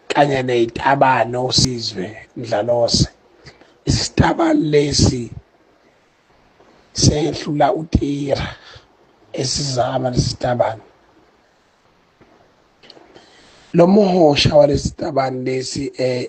kanye nezitabane osizwe mdlalose isitabane lesi sehlula utira esizama lesitabane lo muhosha walesitabane lesi eh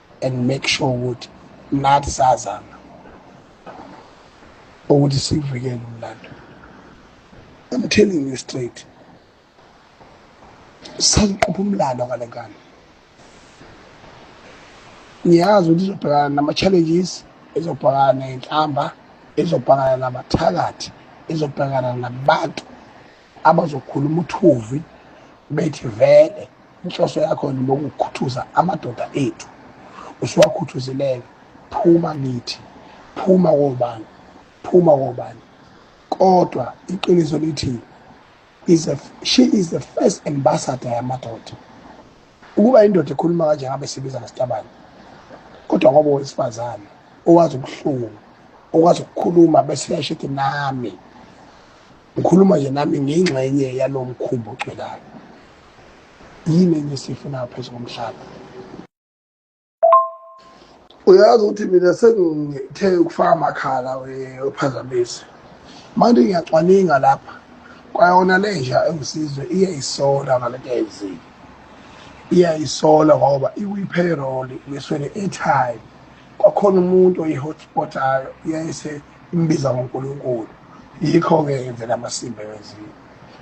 and make sure ukuthi nathi sazama ukuthi sivikele umlando I'm telling you straight sangiqupha umlando ngale nkani ngiyazi ukuthi izobhekana nama-challenges izobhekana ney'nhlamba izobhekana nabathakathi izobhekana nabantu abazokhuluma uthuvi bethi vele inhloso yakho yini lokukhuthuza amadoda ethu usuwakhuthuzileke phuma kithi phuma kobani phuma kobani kodwa iqiniso lithi is a, she is the first ambassador yamadoda ukuba indoda ekhuluma kanje ngabe sibiza ngesitabane kodwa ngoba owesifazane owazi ubuhlungu okwazi ukukhuluma bese yashithi nami Ngikhuluma nje nami ngingxenye yalo mkhumbi ogcwelayo. Yini enye esiyifuna phezu komhlaba? Uyazi ukuthi mina sengithe ukufaka amakhala wephazamisi. Manje ngiyacwaninga lapha kwayona lenja engisizwe iyayisola ngale nto ayenzile. Iyayisola ngoba ikwi-payroll ngiswele i-airtime. Kwakhona umuntu oyi-hotspotayo yayise imbiza ngoNkulunkulu yikho-ke yenzela amasimba ewenziwe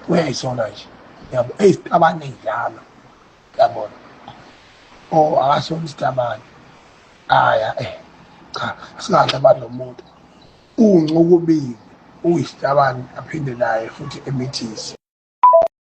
uyayisola nje yabo eyi sitabane njalo yabona o oh, akasona isitabane aya eh cha singahle abantu nomuntu uncukubiwe uyisitabane aphinde naye futhi emithise